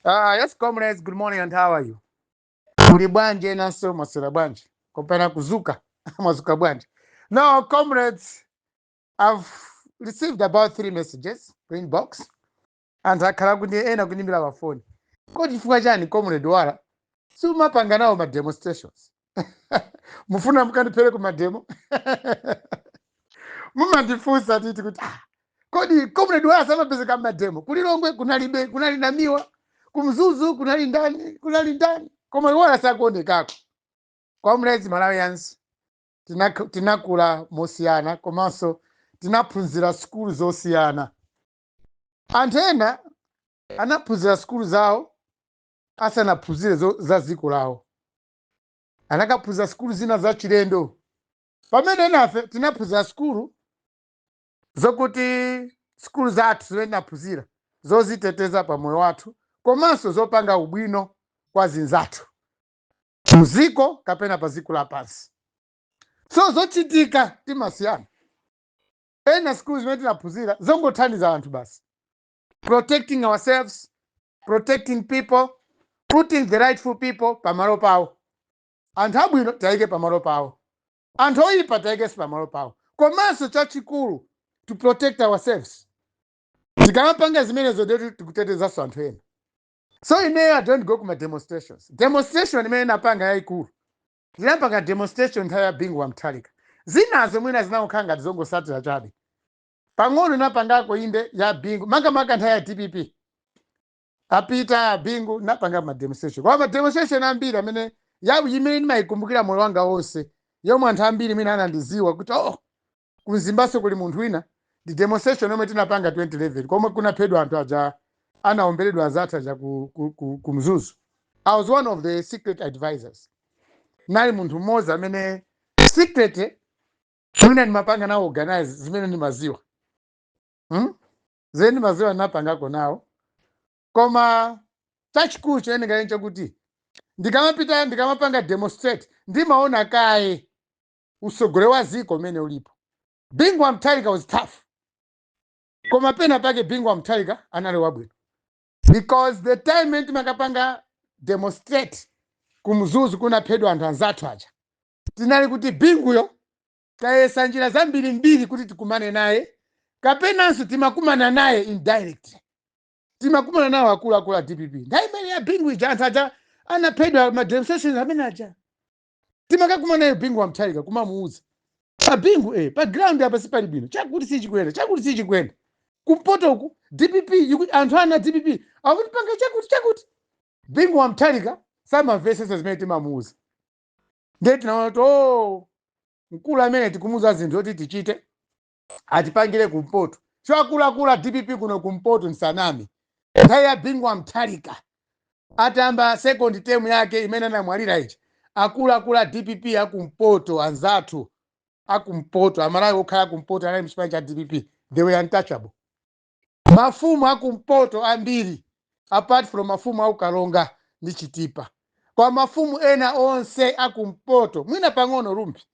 Ah, yes comrades, good morning and how are you? Muli bwanji enanso mwaswera bwanji? Kopena kuzuka, mwazuka bwanji? Now comrades, I've received about three messages ku inbox anthu akhala kuti ena kundiimbira pafoni. Kodi chifukwa chani comrade wala siumapanga nawo ma demonstrations? mufuna mukandiphere kumademo mumandifunsa titi kuti ah, kodi comrade wala samapezeka mmademo kulilongwe kunalibe kunali namiwa kumzuzu kunali ndani kunali ndani koma wala sakuonekako comrades malawians tinak- tinakula mosiyana komanso tinaphunzira sukulu zosiyana anthu ena anaphunzira sukulu zawo asanaphunzire zo- za dziko lawo anakaphunzira sukulu zina za chilendo pamene enafe tinaphunzira sukulu zokuti sukulu zathu zimene tinaphunzira zoziteteza pa moyo wathu komanso zopanga ubwino kwa anzathu muziko kapena pa ziko lapansi so zochitika timasiyana ena sukulu zimene tinaphunzira zongothandiza anthu basi protecting ourselves protecting people putting the rightful people pamalo pawo anthu abwino tiwayike pamalo pawo anthu oyipa tiwayikenso pamalo pawo komanso chachikulu to protect ourselves tikamapanga zimenezo ndeti tikutetezanso anthu ena so ineyo i don't go kuma demonstrations demonstration imene ndinapanga yayikulu ndinapanga demonstration nthawi ya bingu wa mutharika zinazo mwina zinangokhala ngati zongosatira chabe pang'ono ndinapangako inde ya bingu makamaka nthawi ya dpp apita abingu ndinapangako mademonstration koma mademonstration ambiri amene ya imene ndimayikumbukira moyo wanga wonse yomwe anthu ambiri mwina anandiziwa kuti oh kumzimbaso kuli munthu wina ndi demonstration yomwe tinapanga 2011 komwe kunaphedwa anthu aja anaomberedwa azathu aja ku, ku, ku, ku mzuzu i was one of the secret advisors nali munthu mmodzi amene secret mwina ndimapanga nawo organize zimene ndimaziwa hmm? zimene ndimaziwa ndinapangako nawo koma chachikulu choyenekera chakuti ndikamapita ndikamapanga demonstrate ndimaona kaye usogole wa ziko umene ulipo bingu wa mutharika was tough koma pena pake bingu wa mutharika anali wabwino because the time mene timakapanga demonstrate kumzuzu kunaphedwa anthu anzathu aja Tinali kuti Binguyo tayesa njira zambirimbiri kuti tikumane naye kapenanso timakumana naye indirectly. Timakumana nawo akuluakulu a dpp. Nthawi imene ya Bingu ija anthu aja anaphedwa ma demonstrations amene aja. Timakakumana naye Bingu wa Mutharika kumamuuza. A Bingu eh, pa ground apa sipali bwino. Chakuti sichikuyenda, chakuti sichikuyenda. Kumpoto uku dpp iku- anthu ana a dpp akutipanga chakuti chakuti. Bingu wa Mutharika samamvetsetsa zimene timamuuza. ndiye tinaona kuti o mkulu amene tikumuuza zinthu zoti tichite atipangire kumpoto so akuluakulu a dpp kuno kumpoto nsaname nthawi ya bingu wa mutharika atayamba second term yake imene anamwalira ija akuluakulu a dpp akumpoto anzathu akumpoto amalawi okhala akumpoto anali mchipani cha dpp they were untouchable mafumu akumpoto ambiri apart from mafumu aku karonga ndi chitipa koma mafumu ena onse akumpoto mwina pang'ono rumphi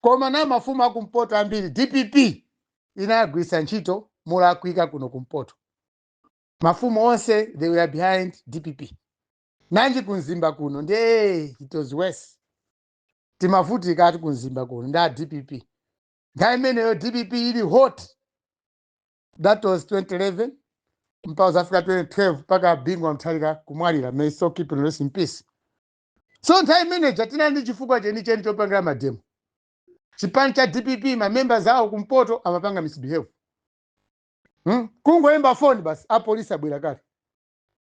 koma na mafumu akumpoto ambiri dpp inawagwiritsa ntchito molakwika kuno kumpoto mafumu onse they were behind dpp nanji kumzimba kuno nde it was worse timavutika ati kumzimba kuno ndi a dpp nthawi imeneyo dpp ili hot that was 2011 mpaka zafika 2012 mpaka bingu wa mutharika kumwalira may his soul rest in peace so nthawi imeneja tinali ndi chifukwa chenicheni chopangira mademo chipani cha dpp ma members awo kumpoto amapanga misbehave hmm? kungoyimba foni basi apolisi abwera kale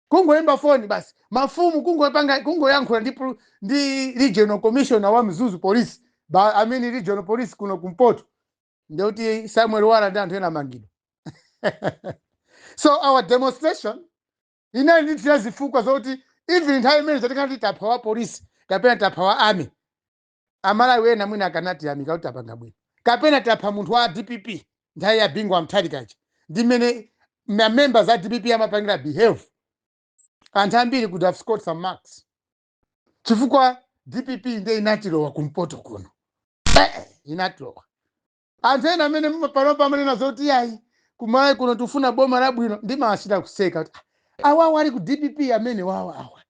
Kungoimba foni basi mafumu kungopanga kungoyankhula ndi pul- ndi regional commissioner wa Mzuzu police ba I mean regional police kuno kumpoto nde kuti Samuel Wala ndi anthu ena amangidwa. so our demonstration inali ndi tira zifukwa zoti even nthawi imene zatikati tapha wa police kapena tapha wa army amalawi ena mwina akanatiyamika kuti tapanga bwino kapena tapha munthu wa dpp nthawi ya bingu wa mutharika ija ndi mmene ma members a dpp amapangira behave anthu ambiri could have scored some marks chifukwa dpp nde inatilowa kumpoto kuno Eh, inatilowa Anthu ena amene mma- panopa amanena zoti iyayi kumalawi kuno tikufuna boma labwino ndimawachita kuseka kuti, "Ah, awawa ali ku dpp amene wawa awa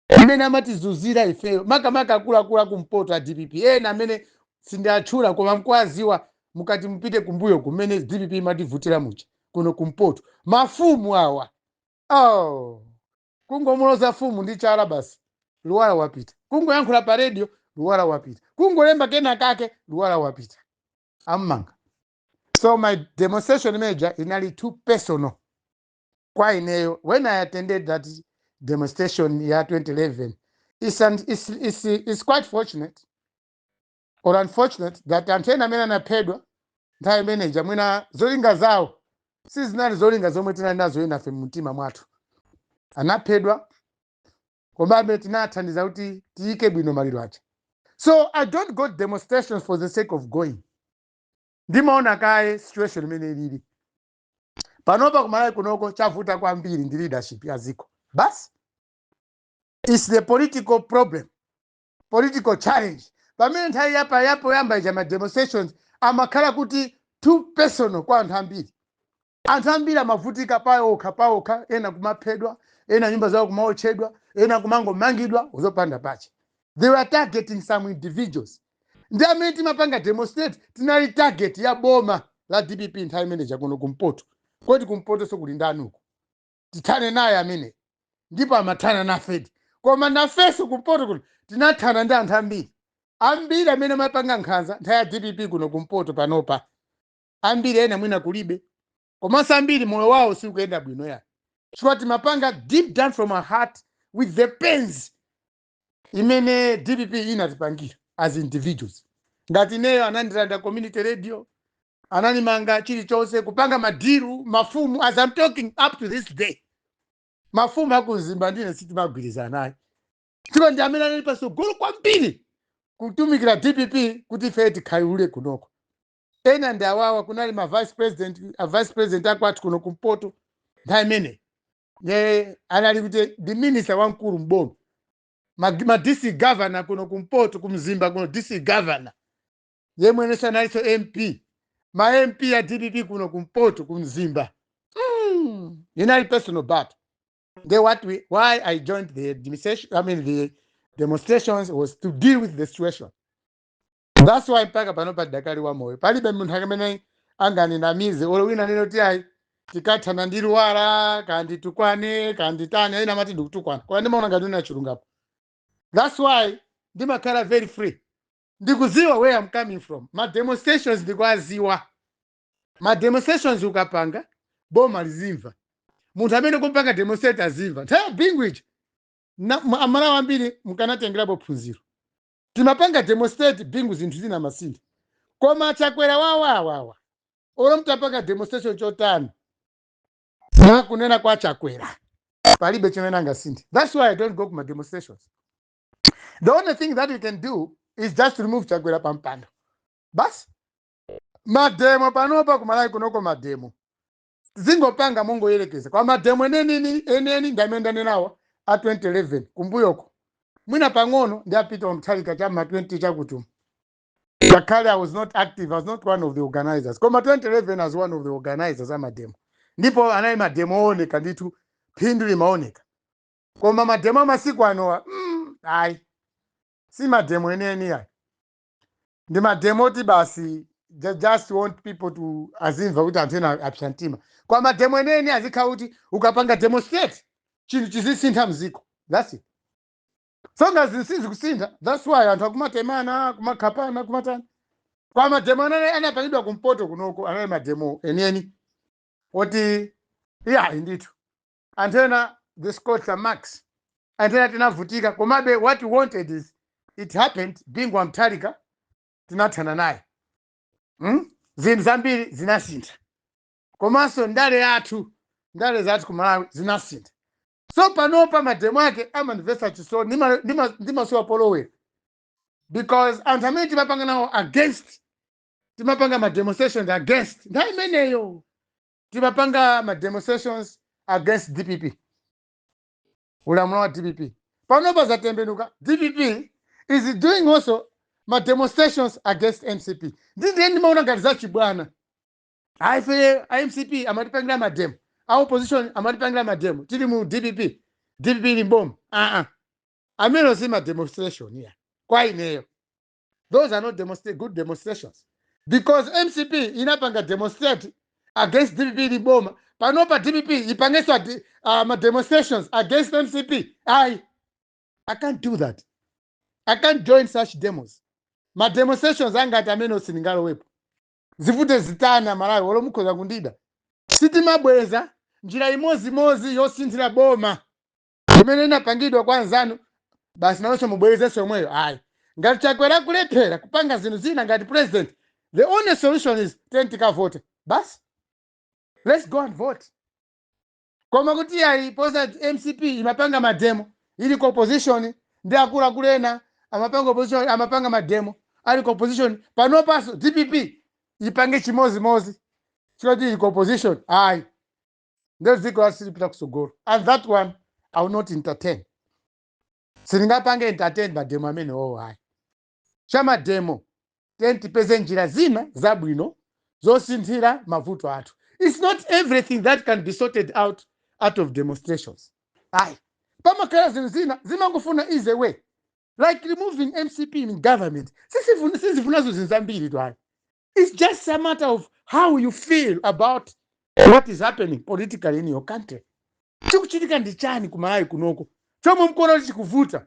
amene amatizunzira ifeyo makamaka akuluakulu akumpoto a dpp ena amene sindiatchula koma mukuwadziwa mukati mupite kumbuyo kumene dpp imativutira muja kuno kumpoto mafumu awa oh. Kungomuloza fumu ndi chala basi Luwala wapita. Kungoyankhula pa radio Luwala wapita. Kungolemba kena kake Luwala wapita. Am'manga. So my demonstration imene ija inali too personal kwa ineyo when I attended that demonstration ya 2011. It's, an, it's, it's, it's quite fortunate or unfortunate that anthu ena amene anaphedwa nthawi imeneja mwina zolinga zawo sizinali zolinga zomwe tinali nazo enafe mumtima mwathu anaphedwa komabe tinathandiza kuti tiyike bwino maliro aja so i don't go to demonstrations for the sake of going ndimaona kaye situation imene ilili panopa kumalawi kunoko chavuta kwambiri ndi leadership ya dziko basi its the political problem political challenge pamene nthawi yapa yapoyamba ija ma demonstrations amakhala kuti too personal kwa anthu ambiri anthu ambiri amavutika paokha paokha ena kumaphedwa ena nyumba zawo kumaotchedwa ena kumangomangidwa zopanda pache they were targeting some individuals ndi amene timapanga demonstrate tinali target ya boma la dpp nthawi imeneja kuno kumpoto kodi kumpotonso kuli ndani uko tithane naye ameneyo ndipo amathana nafedi koma nafenso kumpoto kuno tinathana ndi anthu ambiri ambiri amene amapanga nkhanza nthawi ya dpp kuno kumpoto panopa ambiri ena mwina kulibe komanso ambiri moyo wawo sikuyenda bwino ya chifukwa timapanga deep down from our heart with the pains imene dpp inatipangira as individuals ngati ineyo anandilanda community radio ananimanga chilichonse kupanga ma deal mafumu as I'm talking up to this day mafumu akumzimba ndine sitimagwirizana nayo chifukwa ndi amene anali patsogolo kwambiri kutumikira dpp kuti ife tikhayulule kunoko ena ndi awawa kunali ma vice president a vice president akwathu kuno kumpoto nthawi imene anali kuti ndi minister wamkulu mboma ma, ma dc governor kuno kumpoto kumzimba kuno dc governor yemwe nayenso analinso mp ma mp a dpp kuno kumpoto ku mzimba mm. inali personal battle they what we, why i joined the administration i mean the demonstrations was to deal with the situation that's why mpaka pano padakali wa moyo palibe munthu amene anganinamize olo wina anene kuti ayi tikathana ndi luwala kanditukwane kanditani ena amati ndikutukwana koma ndimaona ngati ndachulukapo that's why ndimakhala very free ndikuziwa where am coming from ma demonstrations ndikuaziwa ma demonstrations ukapanga boma lizimva munthu amene ukumpanga demonstrate azimva nthawi ya bingu ija na- ma- amalawi ambiri mukanatengerapo phunziro timapanga demonstrate bingu zinthu zinamasintha koma chakwera wawawawa olo mtapanga demonstration chotani mwakunena kwa chakwera palibe chimene angasinthe thats why i don't go ku ma demonstrations the only thing that you can do is just remove chakwera pampando basi mademo panopa kumalawi kunoko mademo zingopanga mongoyerekeza koma mademo enieni ndamene ndanenawa a 2011 kumbuyoko mwina pang'ono ndi a Peter Mutharika cha ma 20 chakutuma ngakhale i was not active i was not one of the organizers koma 2011 as one of the organizers amademo ndipo anali mademo ooneka ndithu phindu limaoneka koma mademo amasiku anowa mm, ayi si mademo enieni ayi ndi mademo oti basi ju- just want people to azimva kuti anthu ena apsa mtima kwa mademo enieni azikhala kuti ukapanga demonstrate chinthu chizisintha mziko that's it so ngati zinthu sizikusintha that's why anthu akumatemana akumakhapana akumatani koma mademo amene anapangidwa kumpoto kunoko anali mademo enieni oti iyayi ndithu anthu ena they scored some marks anthu ena tinavutika komabe what we wanted is it happened bingu wa mutharika tinathana naye hmm? zinthu zambiri zinasintha komanso ndale yathu ndale zathu ku malawi zinasintha so panopa mademo ake amandimvetsa chisoni ndima- ndima- ndimasowa polowera because anthu amene timapanga nawo against timapanga ma demonstrations against nthawi imeneyo timapanga ma demonstrations against dpp ulamuliro wa dpp panopa zatembenuka dpp is doing also ma demonstrations against mcp ndi ndiye ndimaona ngati zachibwana aife a mcp amatipangira mademo a opposition amatipangira mademo tili mu dpp dpp ili mboma aa amenewo si ma demonstration ayi kwa ineyo those are not demonstra good demonstrations because mcp inapanga demonstrate against dpp ili mboma panopa dpp ipangenso adi- ah, ma demonstrations against mcp ayi i can't do that i can't join such demos ma demonstrations angati amenewo sindingalowepo zivute zitani amalawi olo mukhoza kundida sitimabweza njira imodzimodzi yosinthira boma imene inapangidwa kwa anzanu basi nawonso mubwerezenso yomweyo ayi ngati chakwera akulephera kupanga zinthu zina ngati president the only solution is ten tikavote basi let's go and vote koma kuti ayi poti mcp imapanga mademo ili ku opposition ndi akuluakulu ena amapanga opposition amapanga mademo ali ku opposition panopanso dpp ipange chimozimozi choti ili ku opposition ayi nde dziko lathu silipita kusogolo and that one i will not entertain sindingapange entertain mademo amene owo ayi cha mademo then tipeze njira zina zabwino zosinthira mavuto athu its not everything that can be sorted out out of demonstrations ayi pamakhala zinthu zina zimangofuna easy way like removing mcp in government Sisifuna- sizifunanso zinthu zambiritu ayi It's just a matter of how you feel about what is happening politically in your country. Chikuchitika ndi chani ku Malawi kunoko chomwe mkuona kuti chikuvuta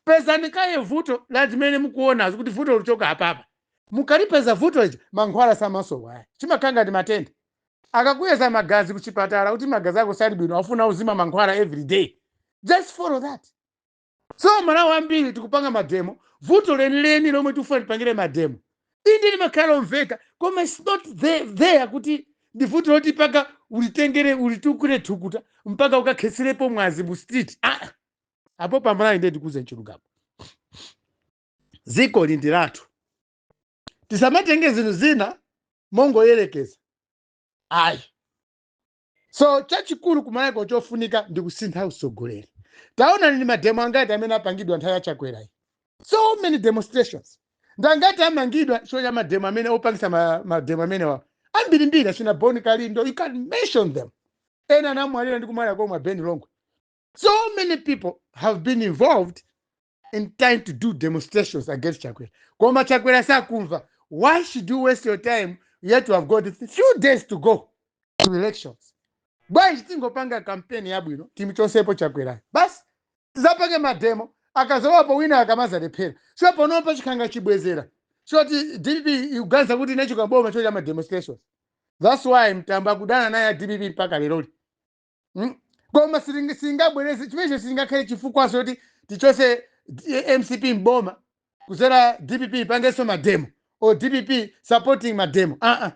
pezani kaye vuto la zimene mukuonazo kuti vuto luchoka apapa mukalipeza vuto lija mankhwala samasowa chimakhala ngati matenda akakuyeza magazi kuchipatala kuti magazi ako sali bwino afuna uzimwa mankhwala every day just follow that so amalawi ambiri tikupanga mademo vuto lenileni lomwe tikufuna tipangire mademo inde limakhala lomveka koma its not the- there kuti ndi vuto loti mpaka ulitengere ulitulukire thukuta mpaka ukakhetserepo mwazi mu street ah, apo pamalawi ndiye tikuuzeni chilungamo dzikoli ndi lathu tisamatenge zinthu zina mongoyerekeza ayi so chachikulu kumalawi kuno chofunika ndi kusintha usogoleri taona ndi mademo angati amene apangidwa nthawi ya chakwerayi so many demonstrations ndangati amangidwa chifukwa cha mademo amene opangisa ma- mademo amenewa ambirimbiri achina boni kalindo you can mention them ena anamwalira ndi kumwalira komwe ben longwe so many people have been involved in trying to do demonstrations against chakwera koma chakwera sakumva why should you waste your time yet you have got few days to go to elections bwanji tingopanga kampeni yabwino timuchotsepo chakwerayo basi tizapange mademo akazalowapo wina akamazalephera so panopa chikukhala ngati chibwezera choti dpp ikuganiza kuti inachoka m'boma chifukwa cha mademonstrations that's why mtambo akudana naye a dpp mpaka leroli Mm? koma silingi- singabwereze chimenecho silingakhale chifukwa choti tichose D- mcp mboma kuzera dpp ipangenso mademo or dpp supporting mademo aa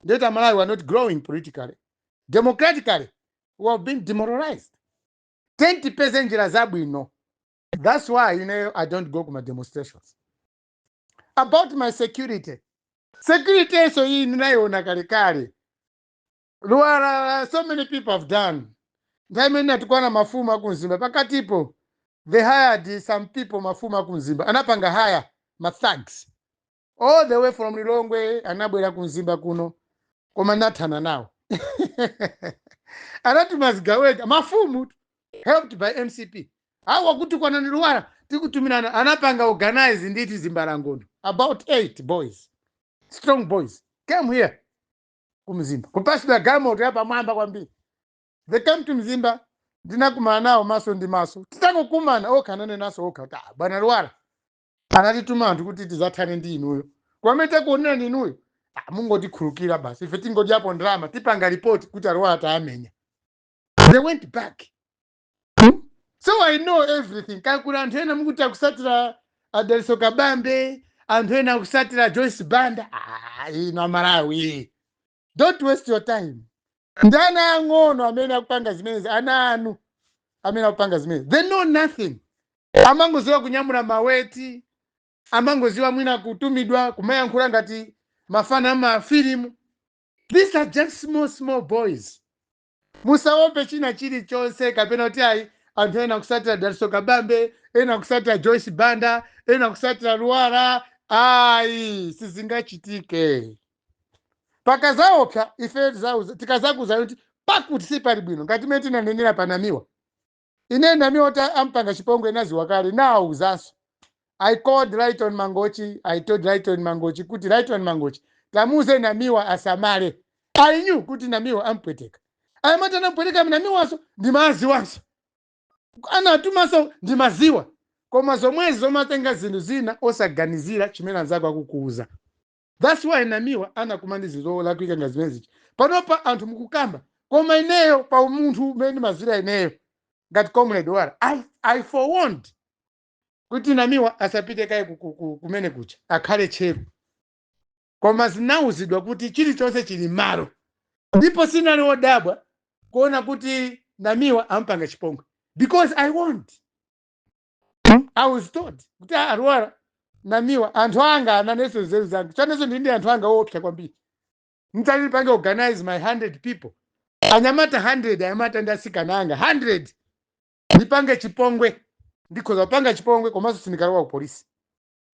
nde kuti amalawi are not growing politically democratically we have been demoralized then tipeze njira zabwino that's why ineyo i don't go kuma demonstrations about my security security yenso iyi ndinayiona kalekale Lwara, so many people have done. Nthawi imene ndinatukwana mafumu akumzimba pakatipo, they hired some people mafumu akumzimba anapanga hire ma thugs all the way from Lilongwe anabwera kumzimba kuno koma nathana nawo anatuma zigawenga mafumu helped by mcp awa akutukwanani Lwara tikutumirani anapanga organize ndithu zimbalangondo about eight boys strong boys came here ku mzimba kupatsidwa galimoto yapamwamba kwambiri they came to mzimba ndinakumana nawo maso ndi maso titangokumana okha ananenanso kuti "Ah, bwana lwara anatituma anthu kuti tidzathane ndi inuyo koma mmene takuonerani inuyo "Ah, mungotikhululukira basi ife tingodyapo ndalama tipanga ripoti kuti alwara tawamenya they went back Hmm? so i know everything kaya kuli anthu ena mukuti akutsatira a dalitso kabambe anthu ena akutsatira joyce banda Ah, inu amalawi don't waste your time ndi ana ang'ono amene akupanga zimenezi ana anu amene akupanga zimenezi they know nothing amangoziwa kunyamula maweti amangoziwa mwina kutumidwa kumayankhula ngati mafana amafilimu these are just small small boys Musaope china chilichonse kapena kuti ayi anthu ena akutsatira Dalitso Kabambe, ena akutsatira Joyce Banda, ena akutsatira Lwara. Ayi, sizingachitike. Pakazaopsa ife tizauza- tikazakuuzani kuti pakuti sipali bwino ngati mmene tinanenera pa Namiwa. Ine Namiwa oti ampanga chipongwe ndinaziwa kale ndinawauzanso. I called Lyton Mangochi, I told Lyton Mangochi kuti Lyton Mangochi tamuuze Namiwa asamale. I knew kuti Namiwa ampweteka. Anyamata anamupweteka Namiwanso ndimaaziwanso. Anawatumanso ndimawaziwa. Koma zomwezi zomatenga zinthu zina osaganizira chimene anzako akukuuza. That's why Namiwa anakumana ndi zinthu zolakwika ngati zimene zija. Panopa anthu mukukamba koma ineyo pa umunthu umene ndimadziwira ineyo ngati comrade Lwara I, I forewarned kuti Namiwa asapite kaye ku- ku- ku- kumene kuja akhale tcheru koma ndinauzidwa kuti chilichonse chili m'malo ndipo ndinali wodabwa kuona kuti Namiwa ampanga chipongwe because I warned Hmm? i was told kuti "Ah, a lwara namiwa anthu anga ananenso nzeru zanga chani inenso ndili ndi anthu anga oopsa kwambiri nditati ndipange organize my 100 people anyamata 100 anyamata ndi asikana anga 100 ndipange chipongwe ndikhoza kuwapanga chipongwe komanso sindikalowa ku polisi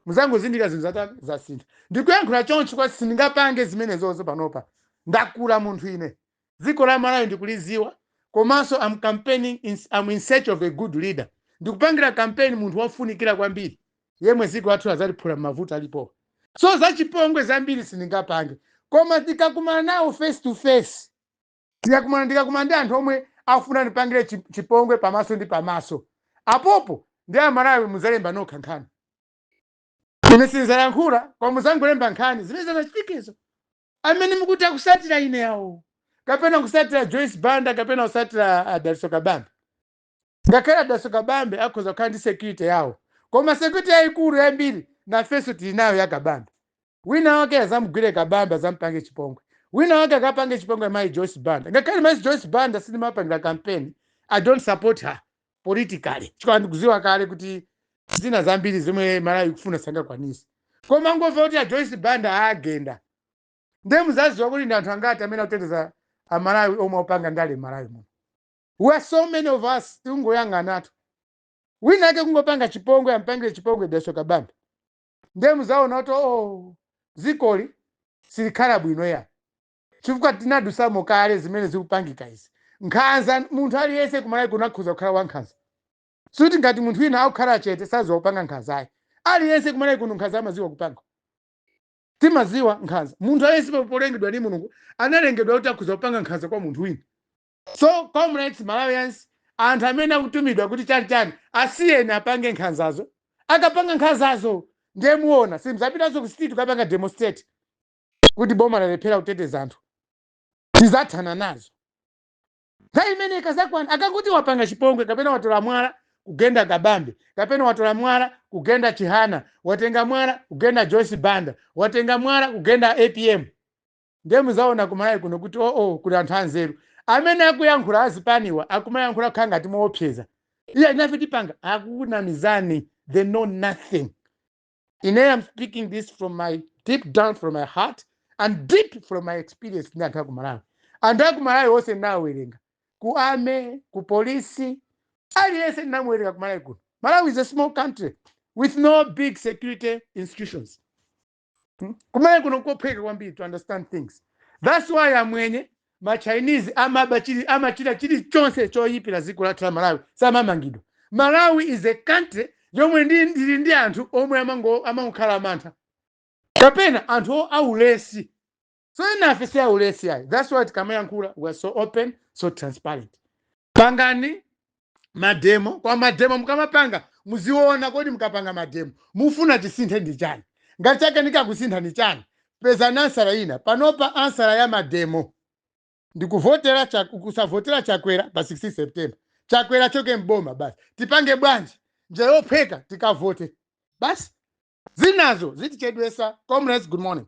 muzangozindikira zinthu zitasintha ndikuyankhula chonchi koma sindingapange zimenezozo panopa ndakula munthu ine dziko la malawi ndikuliziwa komanso am in search of a good leader ndikupangira campaign munthu wofunikira kwambiri yemwe dziko lathu azaliphula m'mavuto alipowa, so zachipongwe zambiri sindingapange koma ndikakumana nawo face to face ndikakumana ndikakumana ndi anthu omwe afuna ndipangire chi- chipongwe pamaso ndi pamaso apopo ndi amalawi muzalemba nokha nkhani ine sinzayankhula koma muzangolemba nkhani zimene zazachitikezo amene mukuti akusatira ineyo awo kapena kusatira joyce banda kapena kusatira a daliso kabambe ngakhale a daliso kabambe akhoza kukhala ndi security yawo koma security yayikulu yambiri nafenso tili nayo ya kabambe wina wake azamugwire kabambe azampangire chipongwe wina wake akapange chipongwe mayi joyce banda ngakhale mayi joyce banda sindimawapangira kampeni i don't support her politically chifukwa ndikuziwa kale kuti zina zambiri zomwe malawi ikufuna sangakwanise koma kungomva kuti a joyce banda aagenda ndiye muzaziwa kuti ndi anthu angati amene akuteteza amalawi omwe opanga ndale m'malawi muno we are so many of us tikungoyang'anatu wina ake kungopanga chipongwe ampangire chipongwe daliso kabambe ndiye muzaona kuti oh zikoli silikhala bwino ya chifukwa tinadusamo kale zimene zikupangika izi nkhanza munthu aliyense kumalawi kuno akhoza kukhala wankhanza sikuti ngati munthu wina akukhala chete saziwa kupanga nkhanza ayi aliyense kumalawi kuno nkhanza amaziwa kupanga timaziwa nkhanza munthu aliyense polengedwa ndi mulungu analengedwa kuti akhoza kupanga nkhanza kwa munthu wina so comrades malawians anthu amene akutumidwa kuti chani chani asiyeni apange nkhanzazo akapanga nkhanzazo ndiye muona simzapitanso ku street kukapanga demonstrate kuti boma lalephera kuteteza anthu tizathana nazo nthawi imene ikazakwana yakuti wapanga chipongwe kapena watola mwala kugenda kabambe kapena watola mwala kugenda chihana watenga mwala kugenda joyce banda watenga mwala kugenda apm ndiye muzaona kumalawi kuno kuti oo kuli anthu anzeru amene akuyankhula azipaniwa akumayankhula kukhala ngati moopseza iya nafe tipanga akukunamizani they know nothing ine am speaking this from my deep down from my heart and deep from my experience ndi anthu akumalawi anthu akumalawi onse ndinawawerenga ku army ku polisi aliyense ndinamuwerenga kumalawi kuno malawi is a small country with no big security institutions Hmm? kumalawi kuno nkophweka kwambiri to understand things thats why amwenye machinese amaba chili amachita chilichonse choyipira dziko lathu la malawi samamangidwa malawi is a country yomwe ndi- ili ndi anthu omwe amango- amangokhala amantha kapena anthu o- aulesi so enafe si aulesi ayi thats why tikamayankhula we are so open so transparent pangani mademo koma mademo mukamapanga muziona kodi mukapanga mademo mufuna chisinthe ndi chani ngati sichikakusintha ndi chani pezani ansala ina panopa ansala ya mademo ndikuvotera Chak- kusavotera chakwera pa 16 september chakwera choke mboma basi tipange bwanji njira yophweka tikavote basi zinazo zitichedwesa comrades good morning